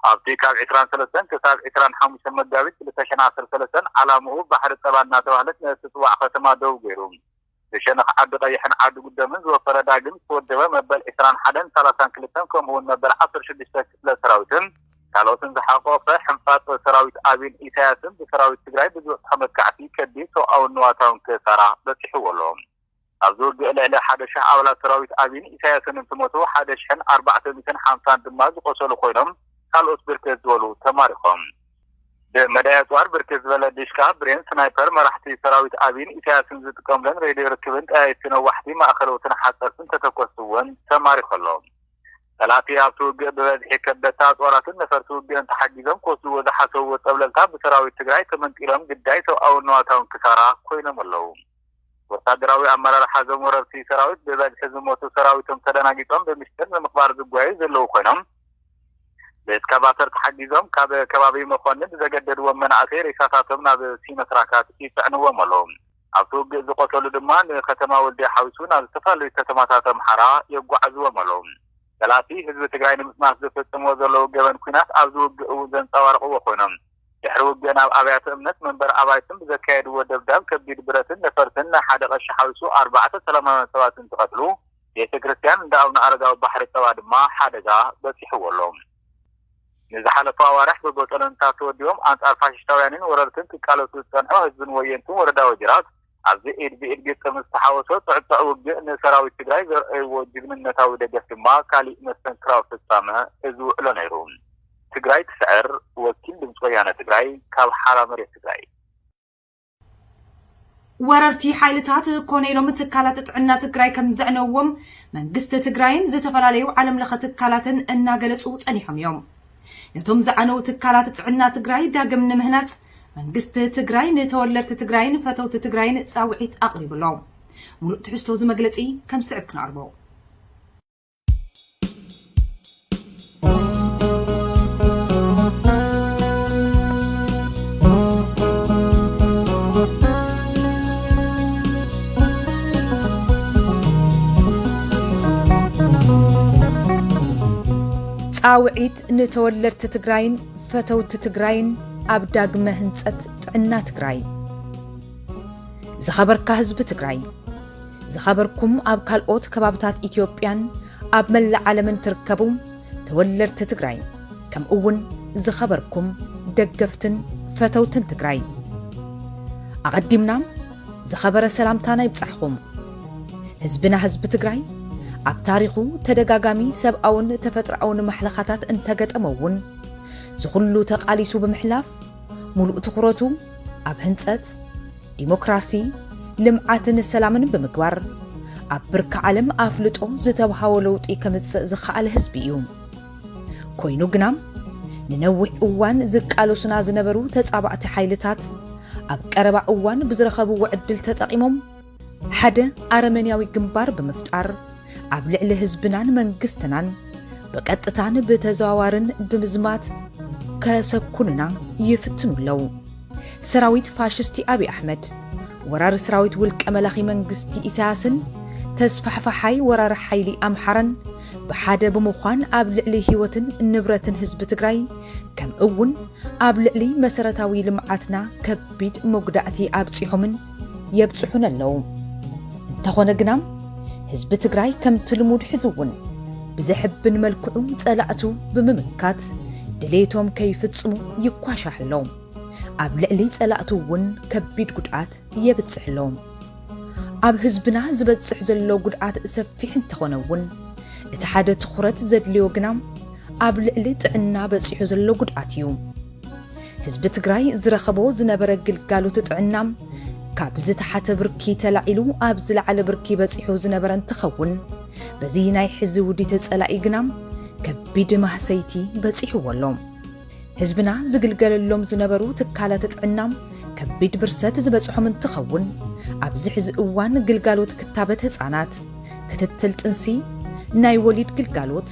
ኣብቲ ካብ ዕስራን ሰለስተን ክሳብ ዕስራን ሓሙሽተን መጋቢት ክልተ ሽሕን ዓሰርተ ሰለስተን ዓላምኡ ባሕሪ ጠባ እናተባህለት ንእትጽዋዕ ከተማ ደው ገይሩ ብሸነኽ ዓዲ ቀይሕን ዓዲ ጉደምን ዝወፈረ ዳግም ዝተወደበ መበል ዕስራን ሓደን ሳላሳን ክልተን ከምኡ'ውን መበል ዓሰርተ ሽዱሽተ ክፍለ ሰራዊትን ካልኦትን ዝሓቖፈ ሕንፋጽ ሰራዊት ኣብይን ኢሳያስን ብሰራዊት ትግራይ ብዝበጽሖ መጥቃዕቲ ከቢድ ሰብኣውን ንዋታውን ክሳራ በጺሕዎ ኣሎ። ኣብዚ ውግእ ልዕሊ ሓደ ሽሕ ኣባላት ሰራዊት ኣብይን ኢሳያስን እንትሞቱ ሓደ ሽሕን ኣርባዕተ ሚእትን ሓምሳን ድማ ዝቖሰሉ ኮይኖም ካልኦት ብርክት ዝበሉ ተማሪኾም። ብመዳይ ኣጽዋር ብርክት ዝበለ ዲሽቃ፣ ብሬን፣ ስናይፐር፣ መራሕቲ ሰራዊት ኣብይን ኢሳያስን ዝጥቀሙለን ሬድዮ ርክብን ጠያይትቲ ነዋሕቲ፣ ማእኸለዎትን ሓፀርትን ተተኮስቲ እውን ተማሪኹ ኣሎ። ፀላእቲ ኣብቲ ውግእ ብበዝሒ ከበድቲ ኣፅዋራትን ነፈርቲ ውግእን ተሓጊዞም ክወስድዎ ዝሓሰብዎ ፀብለልታ ብሰራዊት ትግራይ ተመንጢሎም ግዳይ ሰብኣውን ንዋታውን ክሳራ ኮይኖም ኣለው። ወታደራዊ ኣመራርሓ እዞም ወረርቲ ሰራዊት ብበዝሒ ዝሞቱ ሰራዊቶም ተደናጊጾም ብምሽጥር ንምቕባር ዝጓየዩ ዘለዉ ኮይኖም ብእስካቫተር ተሓጊዞም ካብ ከባቢ መኮኒ ብዘገደድዎም መናእሰይ ሬሳታቶም ናብ ሲኖትራካት ይጽዕንዎም ኣለዉ። ኣብቲ ውግእ ዝቖሰሉ ድማ ንከተማ ወልድያ ሓዊሱ ናብ ዝተፈላለዩ ከተማታት ኣምሓራ የጓዕዝዎም ኣለዉ። ጠላቲ ህዝቢ ትግራይ ንምጥናስ ዘፈጽምዎ ዘለዉ ገበን ኲናት ኣብዚ ውግእ እውን ዘንጸባርቕዎ ኮይኖም ድሕሪ ውግእን ኣብ ኣብያተ እምነት መንበሪ ኣባይትን ብዘካየድዎ ደብዳብ ከቢድ ብረትን ነፈርትን ናይ ሓደ ቀሺ ሓዊሱ ኣርባዕተ ሰላማውያን ሰባት እንትቐትሉ ቤተ ክርስቲያን እንዳ ኣቡነ ኣረጋዊ ባሕሪ ጸባ ድማ ሓደጋ በጺሕዎ ኣሎ። ንዝሓለፉ ኣዋርሕ ብቦጦሎኒታት ተወዲቦም ኣንጻር ፋሽሽታውያንን ወረርትን ክቃለሱ ዝጸንሑ ህዝብን ወየንትን ወረዳ ወጅራት፣ ኣብዚ ኢድ ብኢድ ግጥም ዝተሓወሶ ፅዕፅዕ ውግእ ንሰራዊት ትግራይ ዘርኣይዎ ጅግንነታዊ ደገፍ ድማ ካሊእ መስተንክራዊ ፍፃመ እዚ ውዕሎ ነይሩ። ትግራይ ትስዕር! ወኪል ድምፂ ወያነ ትግራይ ካብ ሓራ መሬት ትግራይ። ወረርቲ ሓይልታት ኮነ ኢሎም ትካላት ጥዕና ትግራይ ከም ዘዕነውዎም መንግስቲ ትግራይን ዝተፈላለዩ ዓለምለኸ ትካላትን እናገለፁ ፀኒሖም እዮም። ነቶም ዝዓነዉ ትካላት ጥዕና ትግራይ ዳግም ንምህናፅ መንግስቲ ትግራይ ንተወለድቲ ትግራይን ፈተውቲ ትግራይን ፃውዒት ኣቕሪቡ ኣሎ። ሙሉእ ትሕዝቶ እዚ መግለፂ ከም ዝስዕብ ክነቕርቦ። ፃውዒት ንተወለድቲ ትግራይን ፈተውቲ ትግራይን ኣብ ዳግመ ህንፀት ጥዕና ትግራይ። ዝኸበርካ ህዝቢ ትግራይ፣ ዝኸበርኩም ኣብ ካልኦት ከባብታት ኢትዮጵያን ኣብ መላእ ዓለምን ትርከቡ ተወለድቲ ትግራይ ከምኡ እውን ዝኸበርኩም ደገፍትን ፈተውትን ትግራይ ኣቐዲምና ዝኸበረ ሰላምታና ይብጻሕኹም። ህዝብና ህዝቢ ትግራይ ኣብ ታሪኹ ተደጋጋሚ ሰብኣውን ተፈጥሮኣውን ማሕለኻታት እንተገጠሞ እውን ዝኹሉ ተቓሊሱ ብምሕላፍ ሙሉእ ትኹረቱ ኣብ ህንፀት ዲሞክራሲ፣ ልምዓትን ሰላምን ብምግባር ኣብ ብርኪ ዓለም ኣፍልጦ ዝተብሃዎ ለውጢ ከምፅእ ዝኸኣለ ህዝቢ እዩ። ኮይኑ ግና ንነዊሕ እዋን ዝቃለሱና ዝነበሩ ተጻባእቲ ሓይልታት ኣብ ቀረባ እዋን ብዝረኸብዎ ዕድል ተጠቒሞም ሓደ ኣረመንያዊ ግንባር ብምፍጣር ኣብ ልዕሊ ህዝብናን መንግስትናን ብቀጥታን ብተዘዋዋርን ብምዝማት ከሰኩኑና ይፍትኑ ኣለዉ። ሰራዊት ፋሽስቲ ኣብይ ኣሕመድ፣ ወራሪ ሰራዊት ውልቀ መላኺ መንግስቲ ኢሳያስን ተስፋሕፋሓይ ወራሪ ሓይሊ ኣምሓራን ብሓደ ብምዃን ኣብ ልዕሊ ህይወትን ንብረትን ህዝቢ ትግራይ ከም እውን ኣብ ልዕሊ መሰረታዊ ልምዓትና ከቢድ መጉዳእቲ ኣብፂሖምን የብፅሑን ኣለዉ። እንተኾነ ግና ህዝቢ ትግራይ ከምቲ ልሙድ ሕዚ እውን ብዘሕብን መልክዑ ፀላእቱ ብምምካት ድሌቶም ከይፍፅሙ ይኳሻሕ ኣሎ። ኣብ ልዕሊ ፀላእቱ እውን ከቢድ ጉድኣት የብጽሕሎም። ኣብ ህዝብና ዝበጽሕ ዘሎ ጉድኣት ሰፊሕ እንተኾነ እውን እቲ ሓደ ትኹረት ዘድልዮ ግና ኣብ ልዕሊ ጥዕና በጺሑ ዘሎ ጉድኣት እዩ። ህዝቢ ትግራይ ዝረኸቦ ዝነበረ ግልጋሎት ጥዕና ካብ ዝተሓተ ብርኪ ተላዒሉ ኣብ ዝለዓለ ብርኪ በጺሑ ዝነበረ እንትኸውን በዚ ናይ ሕዚ ውዲት ጸላኢ ግና ከቢድ ማህሰይቲ በጺሕዎ ኣሎ። ህዝብና ዝግልገለሎም ዝነበሩ ትካላት ጥዕና ከቢድ ብርሰት ዝበፅሖም እንትኸውን ኣብዚ ሕዚ እዋን ግልጋሎት ክታበት ህፃናት፣ ክትትል ጥንሲ፣ ናይ ወሊድ ግልጋሎት፣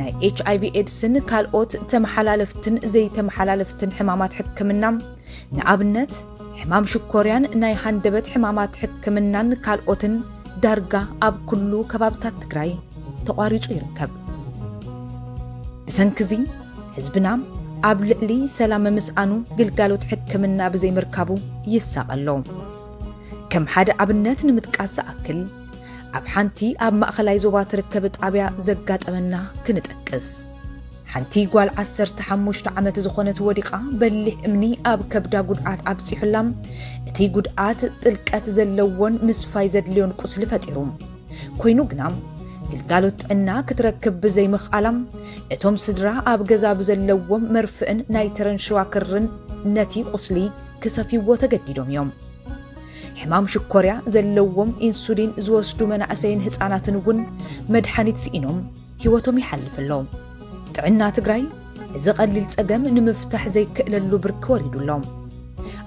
ናይ ኤች ኣይቪ ኤድስን ካልኦት ተመሓላለፍትን ዘይተመሓላለፍትን ሕማማት ሕክምና ንኣብነት ሕማም ሽኮርያን ናይ ሃንደበት ሕማማት ሕክምናን ካልኦትን ዳርጋ ኣብ ኩሉ ከባብታት ትግራይ ተቋሪፁ ይርከብ። ብሰንኪ እዚ ህዝብና ኣብ ልዕሊ ሰላም ምስኣኑ ግልጋሎት ሕክምና ብዘይምርካቡ ይሳቐ ኣሎ። ከም ሓደ ኣብነት ንምጥቃስ ዝኣክል ኣብ ሓንቲ ኣብ ማእኸላይ ዞባ ትርከብ ጣብያ ዘጋጠመና ክንጠቅስ። ሓንቲ ጓል ዓሰርተ ሓሙሽተ ዓመት ዝኾነት ወዲቓ በሊሕ እምኒ ኣብ ከብዳ ጉድኣት ኣብፂሑላ እቲ ጉድኣት ጥልቀት ዘለዎን ምስፋይ ዘድልዮን ቁስሊ ፈጢሩ ኮይኑ ግና ግልጋሎት ጥዕና ክትረክብ ብዘይምኽኣላ እቶም ስድራ ኣብ ገዛ ብዘለዎም መርፍእን ናይ ተረንሸዋ ክርን ነቲ ቁስሊ ክሰፍይዎ ተገዲዶም እዮም። ሕማም ሽኮርያ ዘለዎም ኢንሱሊን ዝወስዱ መናእሰይን ህፃናትን እውን መድሓኒት ስኢኖም ህይወቶም ይሓልፍ ኣሎ። ጥዕና ትግራይ እዚ ቀሊል ፀገም ንምፍታሕ ዘይክእለሉ ብርኪ ወሪዱ ኣሎ።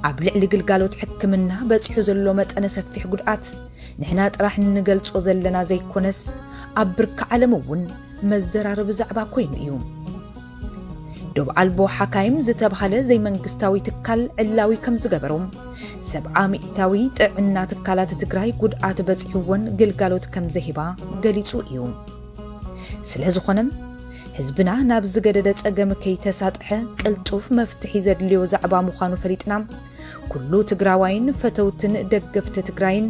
ኣብ ልዕሊ ግልጋሎት ሕክምና በፂሑ ዘሎ መጠነ ሰፊሕ ጉድኣት ንሕና ጥራሕ እንገልጾ ዘለና ዘይኮነስ ኣብ ብርኪ ዓለም እውን መዘራረቢ ዛዕባ ኮይኑ እዩ። ዶብ ኣልቦ ሓካይም ዝተብሃለ ዘይመንግስታዊ ትካል ዕላዊ ከም ዝገበሮ ሰብዓ ሚእታዊ ጥዕና ትካላት ትግራይ ጉድኣት በፂሕወን ግልጋሎት ከም ዘይህባ ገሊፁ እዩ። ስለ ዝኾነ ህዝብና ናብ ዝገደደ ፀገም ከይተሳጥሐ ቅልጡፍ መፍትሒ ዘድልዮ ዛዕባ ምዃኑ ፈሊጥና ኩሉ ትግራዋይን ፈተውትን ደገፍቲ ትግራይን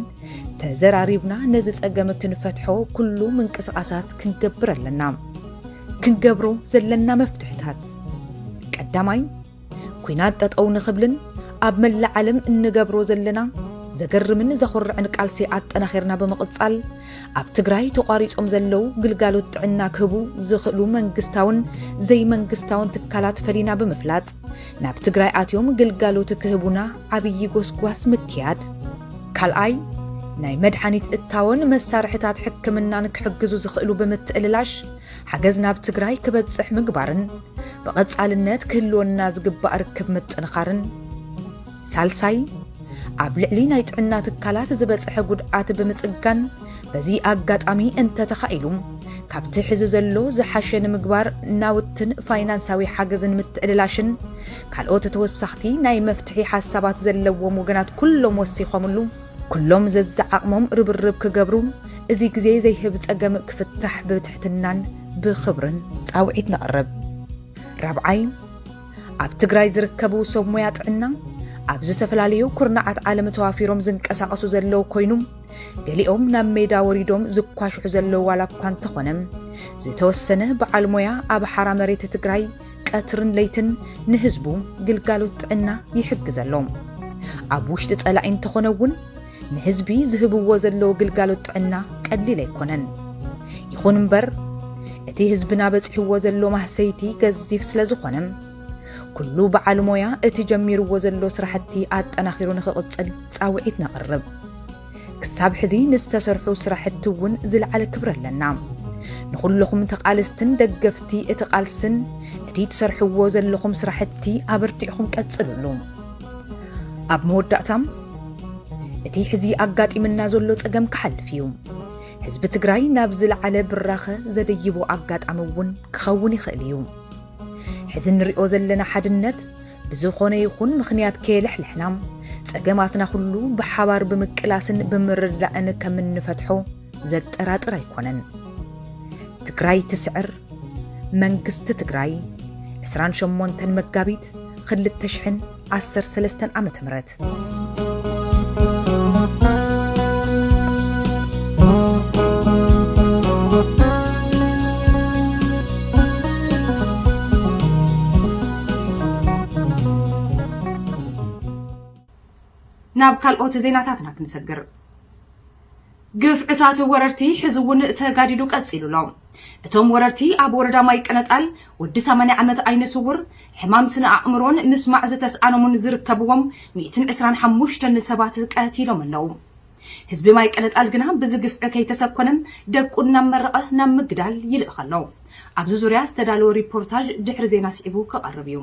ተዘራሪብና ነዚ ጸገም ክንፈትሖ ኩሉ ምንቅስቓሳት ክንገብር ኣለና። ክንገብሮ ዘለና መፍትሕታት ቀዳማይ ኩናት ጠጠው ንኽብልን ኣብ መላእ ዓለም እንገብሮ ዘለና ዘገርምን ዘኹርዕን ቃልሲ ኣጠናኺርና ብምቕጻል ኣብ ትግራይ ተቋሪጾም ዘለው ግልጋሎት ጥዕና ክህቡ ዝኽእሉ መንግስታውን ዘይመንግስታውን ትካላት ፈሊና ብምፍላጥ ናብ ትግራይ ኣትዮም ግልጋሎት ክህቡና ዓብዪ ጎስጓስ ምክያድ። ካልኣይ፣ ናይ መድሓኒት እታወን መሳርሕታት ሕክምናን ክሕግዙ ዝኽእሉ ብምትእልላሽ ሓገዝ ናብ ትግራይ ክበፅሕ ምግባርን ብቐፃልነት ክህልወና ዝግባእ ርክብ ምጥንኻርን። ሳልሳይ፣ ኣብ ልዕሊ ናይ ጥዕና ትካላት ዝበጽሐ ጉድኣት ብምጽጋን፣ በዚ ኣጋጣሚ እንተተኻኢሉ ካብቲ ሕዚ ዘሎ ዝሓሸ ንምግባር ናውትን ፋይናንሳዊ ሓገዝን ምትእልላሽን ካልኦት ተወሳኽቲ ናይ መፍትሒ ሓሳባት ዘለዎም ወገናት ኩሎም ወሲኾምሉ ኩሎም ዘዝዓቕሞም ርብርብ ክገብሩ እዚ ግዜ ዘይህብ ጸገም ክፍታሕ ብትሕትናን ብኽብርን ጻውዒት ነቕርብ። ራብዓይ፣ ኣብ ትግራይ ዝርከቡ ሰብ ሞያ ጥዕና ኣብ ዝተፈላለዩ ኩርናዓት ዓለም ተዋፊሮም ዝንቀሳቐሱ ዘለዉ ኮይኑ ገሊኦም ናብ ሜዳ ወሪዶም ዝኳሽሑ ዘለዉ ዋላ እኳ እንተኾነ ዝተወሰነ በዓል ሞያ ኣብ ሓራ መሬት ትግራይ ቀትርን ለይትን ንህዝቡ ግልጋሎት ጥዕና ይሕግዘ ኣሎ ኣብ ውሽጢ ጸላኢ እንተኾነ እውን ንህዝቢ ዝህብዎ ዘለዉ ግልጋሎት ጥዕና ቀሊል ኣይኮነን። ይኹን እምበር እቲ ህዝብና በጺሕዎ ዘሎ ማህሰይቲ ገዚፍ ስለ ዝኾነ ኩሉ በዓል ሞያ እቲ ጀሚርዎ ዘሎ ስራሕቲ ኣጠናኺሩ ንኽቕጽል ጻውዒት ነቕርብ። ክሳብ ሕዚ ንዝተሰርሑ ስራሕቲ እውን ዝለዓለ ክብሪ ኣለና። ንኹለኹም ተቓለስትን ደገፍቲ እቲ ቃልስን እቲ ትሰርሕዎ ዘለኹም ስራሕቲ ኣበርቲዕኹም ቀጽልሉ። ኣብ መወዳእታም እቲ ሕዚ ኣጋጢምና ዘሎ ጸገም ክሓልፍ እዩ ህዝቢ ትግራይ ናብ ዝለዓለ ብራኸ ዘደይቦ ኣጋጣሚ እውን ክኸውን ይኽእል እዩ ሕዚ እንሪኦ ዘለና ሓድነት ብዝኾነ ይኹን ምኽንያት ከየለሕለሕና ጸገማትና ኩሉ ብሓባር ብምቅላስን ብምርዳእን ከም እንፈትሖ ዘጠራጥር ኣይኮነን ትግራይ ትስዕር መንግስቲ ትግራይ ዕስራን ሸሞንተን መጋቢት ኽልተ ሽሕን ዓሰርተ ሰለስተን ዓመተ ምህረት ናብ ካልኦት ዜናታትና ክንሰግር። ግፍዕታት ወረርቲ ሕዚ እውን ተጋዲዱ ቀፂሉ ኣሎ። እቶም ወረርቲ ኣብ ወረዳ ማይ ቀነጣል ወዲ ሰማንያ ዓመት ዓይነ ስውር፣ ሕማም ስነ ኣእምሮን ምስማዕ ዝተስኣኖምን ዝርከብዎም ሚእትን ዕስራን ሓሙሽተን ሰባት ቀቲሎም ኣለው። ህዝቢ ማይ ቀነጣል ግና ብዚ ግፍዒ ከይተሰኮነ ደቁ እናመረቐ ናብ ምግዳል ይልእኽ ኣሎ። ኣብዚ ዙርያ ዝተዳለወ ሪፖርታዥ ድሕሪ ዜና ስዒቡ ክቐርብ እዩ።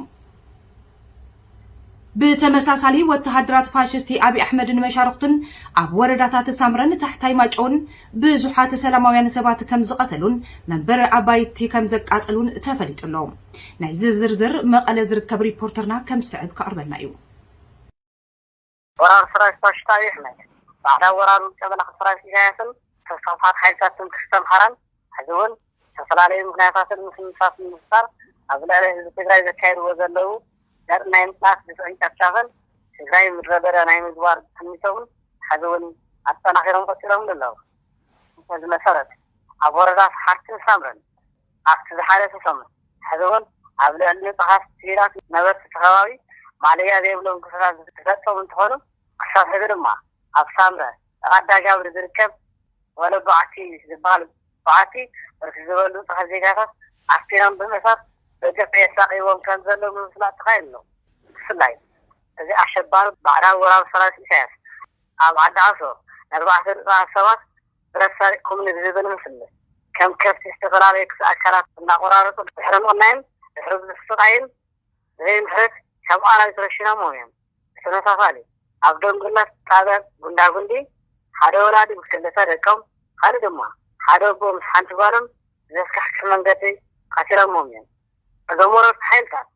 ብተመሳሳሊ ወተሃደራት ፋሽስቲ ኣብይ ኣሕመድን መሻርኽቱን ኣብ ወረዳታት ሳምረን ታሕታይ ማጨውን ብዙሓት ሰላማውያን ሰባት ከም ዝቐተሉን መንበሪ ኣባይቲ ከም ዘቃጸሉን ተፈሊጡ ኣሎ። ናይዚ ዝርዝር መቐለ ዝርከብ ሪፖርተርና ከም ዝስዕብ ከቕርበልና እዩ። ወራር ሰራዊት ፋሽስታዊ ኣሕመድ፣ ባዕዳዊ ወራር ውልቀ መላኺ ሰራዊት ኢሳያስን ተስፋፍሓት ሓይልታት ትምክሕቲ ኣምሓራን ሕዚ እውን ብዝተፈላለዩ ምኽንያታትን ምስምሳትን ብምፍጣር ኣብ ልዕሊ ህዝቢ ትግራይ ዘካይድዎ ዘለዉ ዘርኢ ናይ ምጽናት ግፍዕን ጨፍጫፍን ትግራይ ምድረበዳ ናይ ምግባር ትምኒቶምን ሕዚ እውን ኣጠናኺሮም ቀጺሎምሉ ኣለዉ። በዚ መሰረት ኣብ ወረዳ ሰሓርትን ሳምረን ኣብቲ ዝሓለፈ ሰሙን ሕዚ እውን ኣብ ልዕሊ ንፁሃት ሲቪላት ነበርቲ እቲ ከባቢ ማለያ ዘይብሎም ግፍዕታት ዝፈፀሙ እንትኾኑ ክሳብ ሕዚ ድማ ኣብ ሳምረ ራዳ ጋብሪ ዝርከብ ወለ በዓቲ ዝበሃል በዓቲ ብርክት ዝበሉ ንፁሃት ዜጋታት ኣስፊሮም ብምእሳር ብግፍዒ የሳቕይዎም ከምዘለዉ ምፍላጥ ተኻኢሉ ኣሎ። ብፍላይ እዚ ኣሸባሪ ባዕዳዊ ወራሪ ሰራዊት ኢሳያስ ኣብ ዓዲ ዓሶ ንኣርባዕተ ንፁሃት ሰባት ረሳዕኩም ንዝብል ምስምስ ከም ከብቲ ዝተፈላለዩ ክፍሊ ኣካላት እናቖራረጹ ድሕሪ ምቕናይን ድሕሪ ብዙሕ ስቓይን ብዘይምሕረት ከም ኣራዊት ረሺኖሞም እዮም። ብተመሳሳሊ ኣብ ደንጉላት ጣብያ ጉንዳጉንዲ ሓደ ወላዲ ምስ ክልተ ደቆም ካልእ ድማ ሓደ ኣቦ ምስ ሓንቲ ጓሎም ብዘስካሕክሕ መንገዲ ቐቲሎሞም እዮም። እዞም ወረርቲ ሓይልታት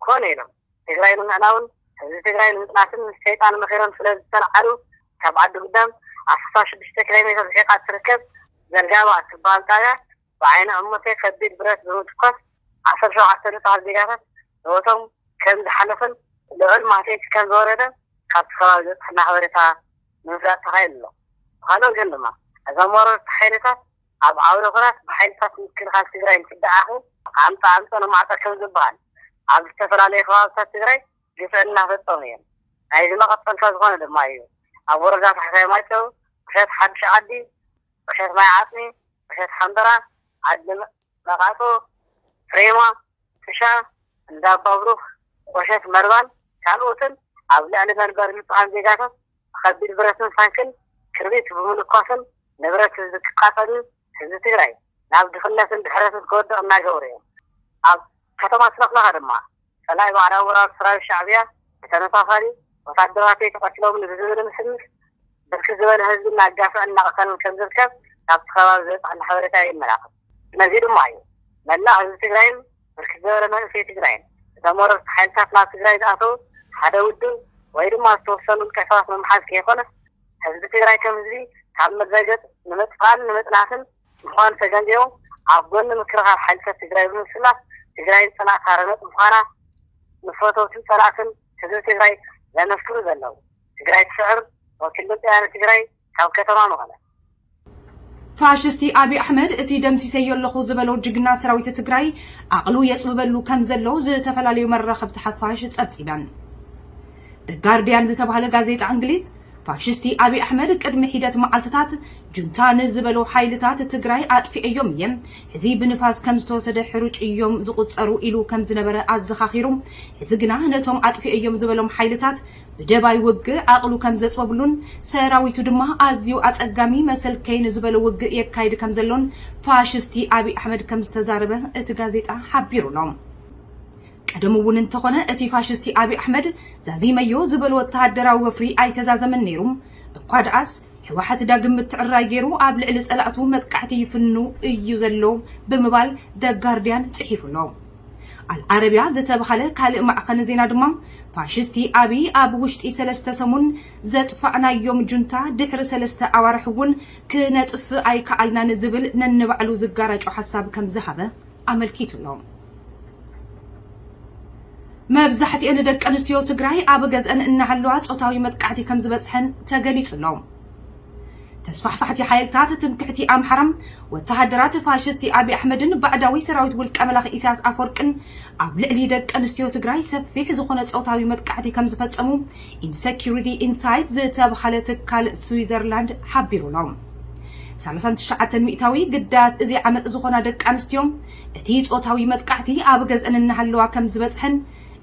ኮነ ኢሎም ትግራይ ንምዕናውን ህዝቢ ትግራይ ንምፅናትን ምስ ሸይጣን መኺሮም ስለዝተልዓሉ ካብ ዓዲ ጉዳም ኣስፋ ሽዱሽተ ኪሎ ሜትር ርሒቓ እትርከብ ዘርጋባ እትበሃል ጣብያ ብዓይኒ እመተይ ከቢድ ብረት ብምትኳስ ዓሰርተ ሸውዓተ ንፁሃት ዜጋታት ህይወቶም ከምዝሓለፈን ልዑል ማህሰይቲ ከምዝወረደን ካብቲ ከባቢ ዝበፀሐና ሓበሬታ ንምፍላጥ ተኻኢሉ ኣሎ። ብኻልእ ወገን ድማ እዞም ወረርቲ ሓይልታት ኣብ ዓውደ ኹናት ብሓይልታት ምክልኻል ትግራይ እንትደዓኹ ኣምፀ ኣምፀ ንማዕፆ ከም ዝበሃል ኣብ ዝተፈላለዩ ከባብታት ትግራይ ግፍዒ እናፈፀሙ እዮም። ናይዚ መቐፀልታ ዝኾነ ድማ እዩ ኣብ ወረዳ ታሕታይ ማይጨው፣ ቁሸት ሓዱሽ ዓዲ፣ ቁሸት ማይ ዓፅሚ፣ ቁሸት ሓምበራ፣ ዓዲ መቓፆ፣ ፍሬማ፣ ጥሻ፣ እንዳ ኣባብሩኽ፣ ቁሸት መርባን ካልኦትን ኣብ ልዕሊ መንበሪ ንፁሃን ዜጋታት ብከቢድ ብረትን ታንክን ክርቢት ብምልኳስን ንብረት ህዝቢ ክቃፀልን ህዝቢ ትግራይ ናብ ድኽነትን ድሕረትን ክወድቕ እናገበሩ እዮም። ኣብ ከተማ ስለኽለኻ ድማ ፀላኢ ባዕዳዊ ወራር ሰራዊት ሻዕቢያ ብተመሳሳሊ ወታደራተይ ተቐትሎምኒ ብዝብል ምስምስ ብርክት ዝበለ ህዝቢ እናጋፍዕን እናቐተለን ከምዝርከብ ካብቲ ከባቢ ዝበፀሐና ሓበሬታ የመላኽት። ነዚ ድማ እዩ መላእ ህዝቢ ትግራይን ብርክት ዝበለ መንእሰይ ትግራይን እቶም ወረርቲ ሓይልታት ናብ ትግራይ ዝኣተው ሓደ ውድብ ወይ ድማ ዝተወሰኑ ውልቀ ሰባት ንምሓዝ ከይኮነስ ህዝቢ ትግራይ ከም ህዝቢ ካብ ምድረ ገፅ ንምጥፋእን ንምጥናስን ምዃኑ ተገንዚቦም ኣብ ጎኒ ምክልኻል ሓይልታት ትግራይ ብምስላፍ ትግራይ ፅንዕቲ ሃረነት ምዃና ንፈተውትን ፀላእትን ህዝቢ ትግራይ ዘመስክሩ ዘለው ትግራይ ትስዕር ወኪል ድምፂ ወያነ ትግራይ ካብ ከተማ መቐለ። ፋሽስቲ ኣብይ ኣሕመድ እቲ ደምሲሰዮ ኣለኹ ዝበሎ ጅግና ሰራዊት ትግራይ ዓቕሉ የፅብበሉ ከም ዘሎ ዝተፈላለዩ መራኸብቲ ሓፋሽ ፀብፂበን። The Guardian ዝተባህለ ጋዜጣ እንግሊዝ ፋሽስቲ ኣብይ ኣሕመድ ቅድሚ ሒደት መዓልትታት ጁንታ ንዝበሎ ሓይልታት ትግራይ ኣጥፊኤዮም እየ፣ ሕዚ ብንፋስ ከም ዝተወሰደ ሕሩጭ እዮም ዝቑፀሩ ኢሉ ከም ዝነበረ ኣዘኻኺሩ፣ ሕዚ ግና ነቶም ኣጥፊኤዮም ዝበሎም ሓይልታት ብደባይ ውግእ ዓቕሉ ከም ዘጽበብሉን ሰራዊቱ ድማ ኣዝዩ ኣጸጋሚ መሰልከይ ንዝበሎ ውግእ የካይድ ከም ዘሎን ፋሽስቲ ኣብይ ኣሕመድ ከም ዝተዛረበ እቲ ጋዜጣ ሓቢሩ ኣሎ። ቀደሙ እውን እንተኾነ እቲ ፋሽስቲ ኣብይ ኣሕመድ ዛዚመዮ ዝበሎ ወተሃደራዊ ወፍሪ ኣይተዛዘመን ነይሩ፣ እኳ ደኣስ ህወሓት ዳግም ምትዕርራይ ገይሩ ኣብ ልዕሊ ጸላእቱ መጥቃዕቲ ይፍኑ እዩ ዘሎ ብምባል The Guardian ጽሒፉ ኣሎ። ኣልዓረብያ ዝተብሃለ ካልእ ማዕኸን ዜና ድማ፣ ፋሽስቲ ኣብይ ኣብ ውሽጢ ሰለስተ ሰሙን ዘጥፋእናዮም ጁንታ ድሕሪ ሰለስተ ኣዋርሕ እውን ክነጥፍእ ኣይከኣልናን ዝብል ነንባዕሉ ዝጋራጮ ሓሳብ ከምዝሃበ ኣመልኪቱ'ሎ። መብዛሕትኤን ደቀንስትዮ ትግራይ ኣብ ገዝኣን እናሃለዋ ፆታዊ መጥቃዕቲ ከምዝበፅሐን ተገሊፁ'ሎ። ተስፋሕፋሕቲ ሓይልታት ትምክሕቲ ኣምሓራ፣ ወተሃደራት ፋሽስቲ ኣቢይ ኣሕመድን ባዕዳዊ ሰራዊት ውልቀ መላኺ ኢሳያስ ኣፈወርቅን ኣብ ልዕሊ ደቂ ኣንስትዮ ትግራይ ሰፊሕ ዝኾነ ጾታዊ መጥቃዕቲ ከምዝፈጸሙ ኢንሰኪዩሪቲ ኢንሳይት ዝተብሃለ ትካል ስዊዘርላንድ ሓቢሩ ኣሎ። ሰላሳን ትሽዓተን ሚእታዊ ግዳያት እዚ ዓመጽ ዝኾና ደቂ ኣንስትዮ እቲ ጾታዊ መጥቃዕቲ ኣብ ገዝአን እናሃለዋ ከምዝበጽሐን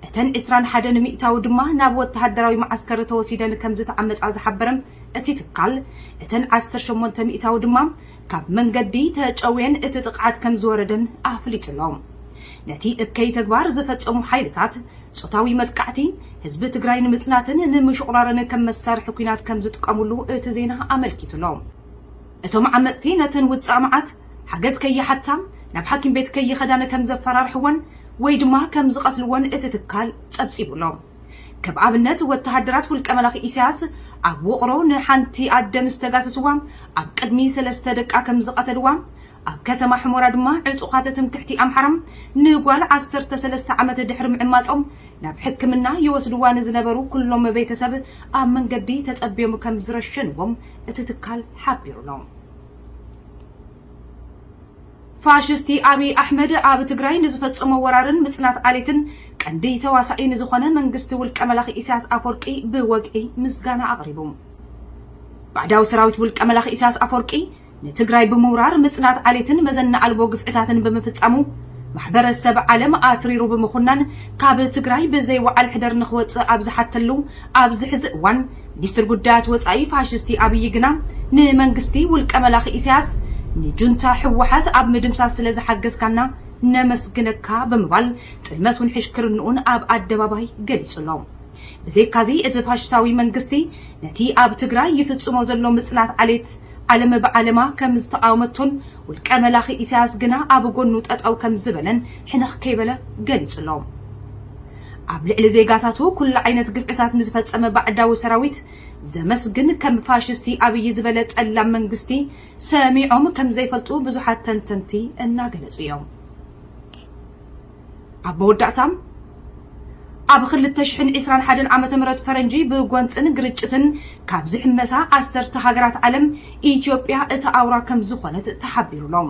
እተን ዕስራን ሓደን ሚእታዊ ድማ ናብ ወተሃደራዊ መዓስከር ተወሲደን ከምዝተዓመጻ ዝሓበረ እቲ ትካል፣ እተን ዓሰርተ ሸሞንተ ሚእታዊ ድማ ካብ መንገዲ ተጨውየን እቲ ጥቕዓት ከምዝወረደን ኣፍሊጡ'ሎ። ነቲ እከይ ተግባር ዝፈጸሙ ሓይልታት፣ ጾታዊ መጥቃዕቲ፣ ህዝቢ ትግራይ ንምጽናትን ንምሹቑራርን ከም መሳርሒ ኲናት ከምዝጥቀሙሉ እቲ ዜና ኣመልኪቱ'ሎ። እቶም ዓመጽቲ ነተን ውጻእ መዓት፣ ሓገዝ ከይሓታ፣ ናብ ሓኪም ቤት ከይኸዳን ከምዘፈራርሕወን ወይ ድማ ከምዝቐትልወን እቲ ትካል ጸብጺቡ'ሎ። ከም ኣብነት ወተሃደራት ውልቀ መላኺ ኢሳያስ ኣብ ውቕሮ ንሓንቲ ኣደ ምስ ተጋሰስዋ ኣብ ቅድሚ ሰለስተ ደቃ ከም ዝቐተልዋ፣ ኣብ ከተማ ሕሞራ ድማ ዕጡቓት ትምክሕቲ ኣምሓራ ንጓል ዓሰርተ ሰለስተ ዓመት ድሕሪ ምዕማጾም ናብ ሕክምና ይወስድዋ ንዝነበሩ ኩሎም ቤተሰብ ኣብ መንገዲ ተጸብዮም ከም ዝረሸንዎም እቲ ትካል ሓቢሩ'ሎ። ፋሽስቲ ኣብይ ኣሕመድ ኣብ ትግራይ ንዝፈፀሞ ወራርን ምፅናት ዓሌትን ቀንዲ ተዋሳኢ ንዝኾነ መንግስቲ ውልቀ መላኺ ኢሳያስ ኣፎርቂ ብወግዒ ምስጋና ኣቕሪቡ። ባዕዳዊ ሰራዊት ውልቀ መላኺ ኢሳያስ ኣፎርቂ ንትግራይ ብምውራር ምፅናት ዓሌትን መዘና ኣልቦ ግፍዕታትን ብምፍፃሙ ማሕበረ ሰብ ዓለም ኣትሪሩ ብምኹናን ካብ ትግራይ ብዘይ ወዓል ሕደር ንኽወፅእ ኣብ ዝሓተሉ ኣብዚ ሕዚ እዋን ሚኒስትር ጉዳያት ወጻኢ ፋሽስቲ ኣብይ ግና ንመንግስቲ ውልቀ መላኺ ኢሳያስ ንጁንታ ህወሓት ኣብ ምድምሳስ ስለ ዝሓገዝካና ነመስግነካ ብምባል ጥልመቱን ሕሽክርንኡን ኣብ ኣደባባይ ገሊጹ ኣሎ። ብዘይካዚ እቲ ፋሽስታዊ መንግስቲ ነቲ ኣብ ትግራይ ይፍጽሞ ዘሎ ምጽናት ዓሌት ዓለም ብዓለማ ከም ዝተቓወመቶን ውልቀ መላኺ ኢሳያስ ግና ኣብ ጎኑ ጠጠው ከም ዝበለን ሕንኽ ከይበለ ገሊጹ ኣሎ። ኣብ ልዕሊ ዜጋታቱ ኩሉ ዓይነት ግፍዕታት ንዝፈጸመ ባዕዳዊ ሰራዊት ዘመስግን ከም ፋሽስቲ ኣብይ ዝበለ ጠላም መንግስቲ ሰሚዖም ከምዘይፈልጡ ብዙሓት ተንተንቲ እናገለጹ እዮም። ኣብ መወዳእታ ኣብ ክልተ ሽሕን ዒስራን ሓደን ዓመተ ምህረት ፈረንጂ ብጎንጽን ግርጭትን ካብ ዝሕመሳ ዓሰርተ ሃገራት ዓለም ኢትዮጵያ እታ ኣውራ ከምዝኾነት ተሓቢሩ ኣሎ።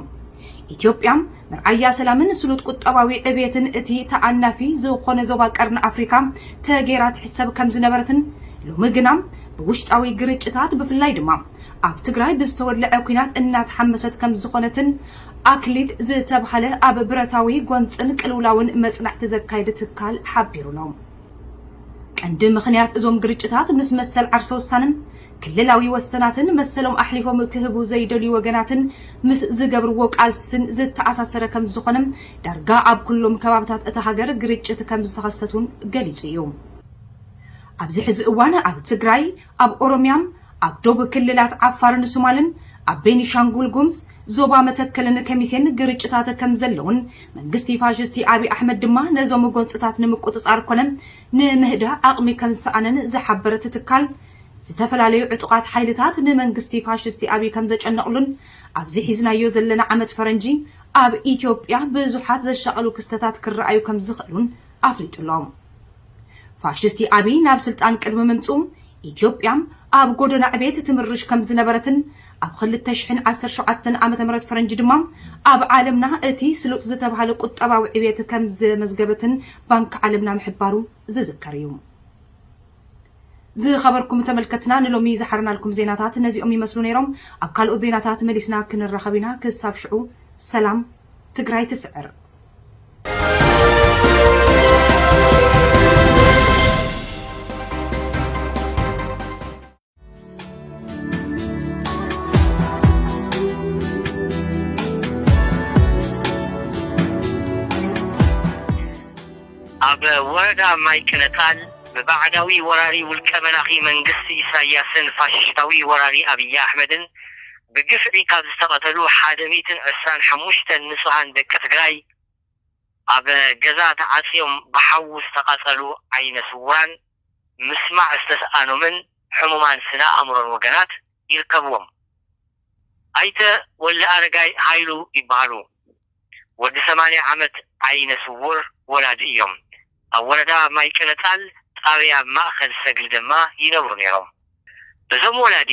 ኢትዮጵያ፣ መርኣያ ሰላምን ስሉጥ ቁጠባዊ ዕብየትን እቲ ተኣናፊ ዝኾነ ዞባ ቀርኒ ኣፍሪካ ተገይራ ትሕሰብ ከምዝነበረትን ሎሚ ግና ብውሽጣዊ ግርጭታት ብፍላይ ድማ ኣብ ትግራይ ብዝተወለዐ ኲናት እናተሓመሰት ከምዝኾነትን ኣክሊድ ዝተብሃለ ኣብ ብረታዊ ጎንፅን ቅልውላውን መፅናዕቲ ዘካይድ ትካል ሓቢሩ'ሎ። ቀንዲ ምኽንያት እዞም ግርጭታት ምስ መሰል ዓርሰ ውሳነን ክልላዊ ወሰናትን መሰሎም ኣሕሊፎም ክህቡ ዘይደልዩ ወገናትን ምስ ዝገብርዎ ቃልስን ዝተኣሳሰረ ከምዝኾነ፣ ዳርጋ ኣብ ኩሎም ከባብታት እታ ሃገር ግርጭት ከምዝተኸሰት'ውን ገሊጹ እዩ። ኣብዚ ሕዚ እዋን ኣብ ትግራይ፣ ኣብ ኦሮሚያ፣ ኣብ ዶብ ክልላት ዓፋርን ሱማልን፣ ኣብ ቤኒሻንጉል ጉምዝ፣ ዞባ መተከልን ከሚሴን ግርጭታት ከምዘለዉን መንግስቲ ፋሽስቲ ኣብይ ኣሕመድ ድማ ነዞም ጎንፅታት ንምቁፅፃር ኮነ ንምህዳእ ዓቕሚ ከምዝሰኣነን ዝሓበረ እቲ ትካል፣ ዝተፈላለዩ ዕጡቓት ሓይልታት ንመንግስቲ ፋሽስቲ ኣብይ ከምዘጨነቕሉን ኣብዚ ሒዝናዮ ዘለና ዓመት ፈረንጂ ኣብ ኢትዮጵያ ብዙሓት ዘሻቕሉ ክስተታት ክረኣዩ ከምዝኽእሉን ኣፍሊጡ'ሎ። ፋሽስቲ ኣብይ ናብ ስልጣን ቅድሚ ምምጽኡ ኢትዮጵያ ኣብ ጎደና ዕቤት ትምርሽ ከምዝነበረትን ኣብ ኽልተ ሽሕን ዓሰርተ ሸውዓተን ዓመተ ምህረት ፈረንጂ ድማ ኣብ ዓለምና እቲ ስሉጥ ዝተብሃለ ቁጠባዊ ዕቤት ከምዘመዝገበትን ባንክ ዓለምና ምሕባሩ ዝዝከር እዩ። ዝኸበርኩም ተመልከትና ንሎሚ ዝሓርናልኩም ዜናታት ነዚኦም ይመስሉ ነይሮም። ኣብ ካልኦት ዜናታት መሊስና ክንራኸብ ኢና። ክሳብ ሽዑ ሰላም፣ ትግራይ ትስዕር! ኣብ ወረዳ ማይ ቅነታል ብባዕዳዊ ወራሪ ውልቀ መላኺ መንግስቲ ኢሳያስን ፋሽሽታዊ ወራሪ ኣብይ ኣሕመድን ብግፍዒ ካብ ዝተቐተሉ ሓደ ሚእትን ዕስራን ሓሙሽተን ንፁሃን ደቂ ትግራይ ኣብ ገዛ ተዓፅዮም ብሓዊ ዝተቓፀሉ ዓይነ ስውራን ምስማዕ ዝተስኣኖምን ሕሙማን ስነ ኣእምሮን ወገናት ይርከብዎም። ኣይተ ወልደኣረጋይ ሃይሉ ይበሃሉ። ወዲ ሰማንያ ዓመት ዓይነ ስዉር ወላዲ እዮም። ኣብ ወረዳ ማይቀለጣል ጣብያ ማእኸል ሰግሊ ደማ ይነብሩ ነይሮም። እዞም ወላዲ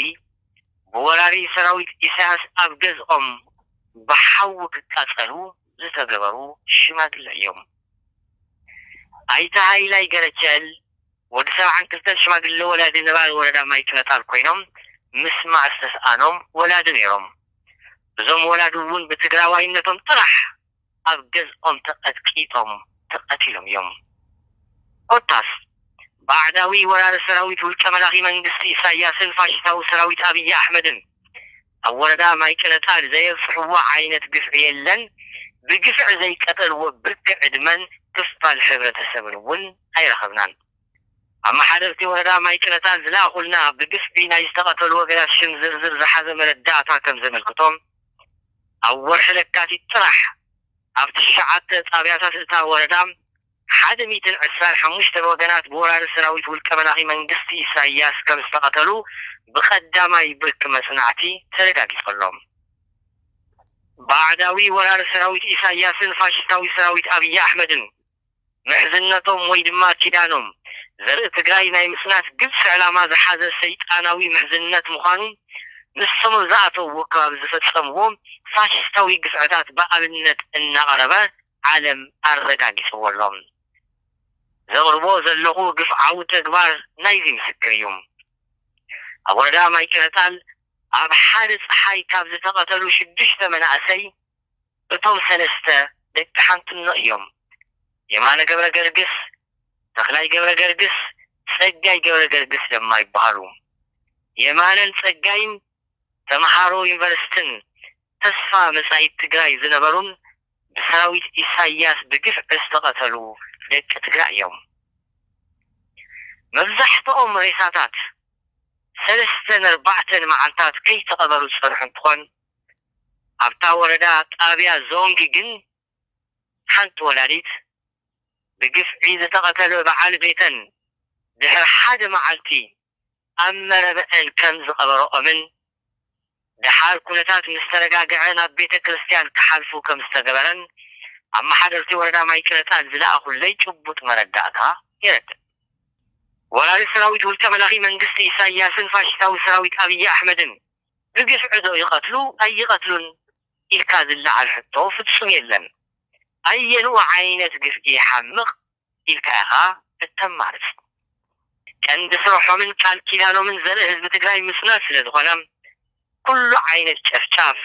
ብወራሪ ሰራዊት ኢሳያስ ኣብ ገዝኦም ብሓዊ ክቃፀሉ ዝተገበሩ ሽማግለ እዮም። ኣይተ ሃይላይ ገረቸል ወዲ ሰብዓን ክልተን ሽማግለ ወላዲ ነባሪ ወረዳ ማይጭነጣል ኮይኖም ምስማዕ ዝተስኣኖም ወላዲ ነይሮም። እዞም ወላዲ እውን ብትግራዋይነቶም ጥራሕ ኣብ ገዝኦም ተቐጥቂጦም ተቐቲሎም እዮም። ኮታስ ባዕዳዊ ወራሪ ሰራዊት ውልቀ መላኺ መንግስቲ ኢሳያስን ፋሽስታዊ ሰራዊት ኣብይ ኣሕመድን፣ ኣብ ወረዳ ማይ ቅነጣል ዘየብጽሕዎ ዓይነት ግፍዒ የለን፣ ብግፍዒ ዘይቀተልዎ ብርኪ ዕድመን ክፋል ሕብረተሰብን እውን ኣይረኸብናን። ኣመሓደርቲ ወረዳ ማይ ቅነጣል ዝለኣኹልና ብግፍዒ ናይ ዝተቐተሉ ወገናት ሽም ዝርዝር ዝሓዘ መረዳእታ ከም ዘመልክቶ ኣብ ወርሒ ለካቲት ጥራሕ ኣብ ትሽዓተ ጣብያታት እታ ወረዳ ሓደ ሚእትን ዕስራን ሓሙሽተን ወገናት ብወራሪ ሰራዊት ውልቀ መላኺ መንግስቲ ኢሳይያስ ከም ዝተቐተሉ ብቀዳማይ ብርኪ መጽናዕቲ ተረጋጊጹ ኣሎ። ባዕዳዊ ወራሪ ሰራዊት ኢሳይያስን ፋሽስታዊ ሰራዊት ኣብይ ኣሕመድን ምሕዝነቶም ወይ ድማ ኪዳኖም ዘርኢ ትግራይ ናይ ምጽናት ግብጺ ዕላማ ዝሓዘ ሰይጣናዊ ምሕዝነት ምዃኑ ንሶም ኣብ ዝኣተውዎ ከባቢ ዝፈጸምዎ ፋሽስታዊ ግፍዕታት ብኣብነት እናቐረበ ዓለም ኣረጋጊጽዎ ኣሎ። ዘቕርቦ ዘለኹ ግፍዓዊ ተግባር ናይዚ ምስክር እዩ። ኣብ ወረዳ ማይጨረታል ኣብ ሓደ ጸሓይ ካብ ዝተቐተሉ ሽዱሽተ መናእሰይ እቶም ሰለስተ ደቂ ሓንትኖ እዮም። የማነ ገብረገርግስ፣ ተኽላይ ገብረገርግስ፣ ጸጋይ ገብረገርግስ ደማ ይበሃሉ። የማነን ጸጋይን ተመሃሮ ዩኒቨርስትን ተስፋ መጻኢት ትግራይ ዝነበሩን ብሰራዊት ኢሳያስ ብግፍዒ ዝተቐተሉ ደቂ ትግራይ እዮም። መብዛሕትኦም ሬሳታት ሰለስተን ኣርባዕተን መዓልታት ከይተቐበሩ ዝፀንሑ እንትኾን ኣብታ ወረዳ ጣብያ ዞንግ ግን ሓንቲ ወላዲት ብግፍዒ ዝተቐተለ በዓል ቤተን ድሕሪ ሓደ መዓልቲ ኣብ መረበተን ከም ዝቐበረኦምን ደሓር ኩነታት ምስ ተረጋግዐ ናብ ቤተ ክርስቲያን ክሓልፉ ከም ዝተገበረን ኣመሓደርቲ ወረዳ ማይ ቅረፃን ዝለኣኹለይ ጭቡጥ መረዳእታ የረድእ። ወራሪ ሰራዊት ውልቀ መላኺ መንግስቲ ኢሳያስን ፋሽስታዊ ሰራዊት ኣብይ ኣሕመድን ብግፍዒ ዶ ይቐትሉ ኣይቐትሉን ኢልካ ዝለዓል ሕቶ ፍፁም የለን። ኣየንኡ ዓይነት ግፍዒ ይሓምቕ ኢልካ ኢኻ እተማርጽ። ቀንዲ ስርሖምን ቃል ኪዳኖምን ዘርኢ ህዝቢ ትግራይ ምስናድ ስለ ዝኾነ ኩሉ ዓይነት ጨፍጫፍ፣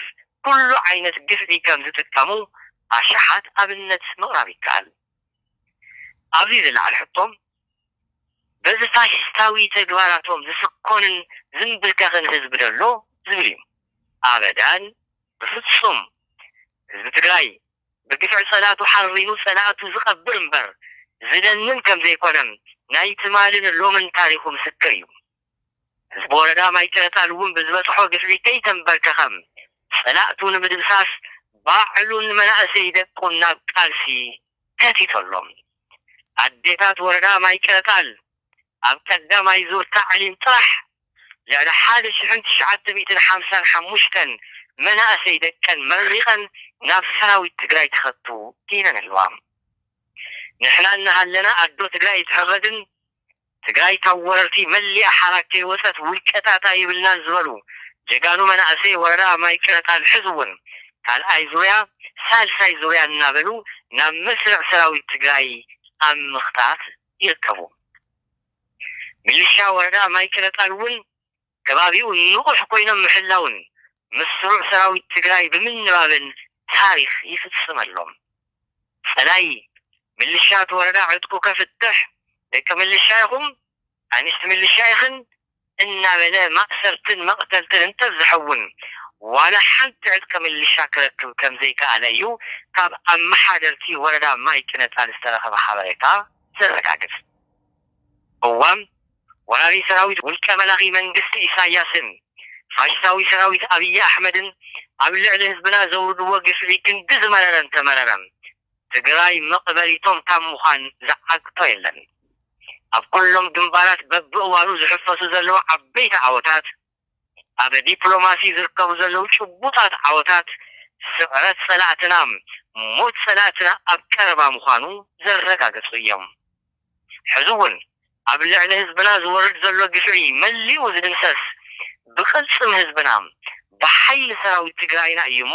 ኩሉ ዓይነት ግፍዒ ከም ዝጥቀሙ ኣሽሓት ኣብነት ምቕራብ ይከኣል። ኣብዚ ዝለዓል ሕቶ በዚ ፋሽስታዊ ተግባራቶም ዝስኮንን ዝምብርከኽን ህዝቢ ዶ ኣሎ? ዝብል እዩ። ኣበዳን! ብፍጹም! ህዝቢ ትግራይ ብግፍዒ ጸላቱ ሓሪኑ ጸላእቱ ዝቐብር እምበር ዝለምን ከም ዘይኮነም ናይ ትማልን ሎምን ታሪኹ ምስክር እዩ። ህዝቢ ወረዳ ማይ ጨረታል እውን ብዝበጽሖ ግፍዒ ከይተምበርከኸም ጸላእቱ ንምድምሳስ ባዕሉን መናእሰይ ደቁን ናብ ቃልሲ ከቲቶ ኣሎ። ኣዴታት ወረዳ ማይ ጨረታል ኣብ ቀዳማይ ዙር ታዕሊም ጥራሕ፣ ልዕሊ ሓደ ሽሕን ትሽዓተ ሚእትን ሓምሳን ሓሙሽተን መናእሰይ ደቀን መሪቐን ናብ ሰራዊት ትግራይ ተኸቱ ኢለን ኣለዋ። ንሕና እናሃለና ኣዶ ትግራይ ኣይትሕረድን፣ ትግራይ ካብ ወረርቲ መሊኣ ሓራ ከይወፀት ውልቀታት ኣይብልናን ዝበሉ ጀጋኑ መናእሰይ ወረዳ ማይ ቅረጣን ሕዚ እውን ካልኣይ ዙርያ ሳልሳይ ዙርያ እናበሉ ናብ መስርዕ ሰራዊት ትግራይ ኣብ ምኽታት ይርከቡ። ሚሊሻ ወረዳ ማይጨረቃን እውን ከባቢኡ ንቑሕ ኮይኖም ምሕላውን ምስ ስሩዕ ሰራዊት ትግራይ ብምንባብን ታሪኽ ይፍፅመሎም። ፀላኢ ምልሻ እቲ ወረዳ ዕጥቁ ከፍትሕ ደቂ ምልሻ ኢኹም ኣንሽቲ ምልሻ ኢኽን እናበለ ማእሰርትን መቕተልትን እንተብዝሐ እውን ዋላ ሓንቲ ዕጥቂ ምልሻ ክረክብ ከምዘይከኣለ እዩ ካብ ኣመሓደርቲ ወረዳ ማይ ቅነፃል ዝተረኸበ ሓበሬታ ዘረጋግፅ። እወ ወራሪ ሰራዊት ውልቀ መላኺ መንግስቲ ኢሳያስን ፋሽታዊ ሰራዊት ኣብይ ኣሕመድን ኣብ ልዕሊ ህዝብና ዘውርድዎ ግፍዒ ክንዲ ዝመረረ እንተመረረ ትግራይ መቅበሪቶም ካብ ምዃን ዝዓግቶ የለን። ኣብ ኩሎም ግንባራት በብእዋኑ ዝሕፈሱ ዘለዉ ዓበይቲ ዓወታት፣ ኣብ ዲፕሎማሲ ዝርከቡ ዘለዉ ጭቡጣት ዓወታት፣ ስዕረት ፀላእትና፣ ሞት ፀላእትና ኣብ ቀረባ ምዃኑ ዘረጋገፁ እዮም። ሕዚ እውን ኣብ ልዕሊ ህዝብና ዝወርድ ዘሎ ግፍዒ መሊኡ ዝድምሰስ ብቅልፅም ህዝብና፣ ብሓይሊ ሰራዊት ትግራይና እዩ እሞ፣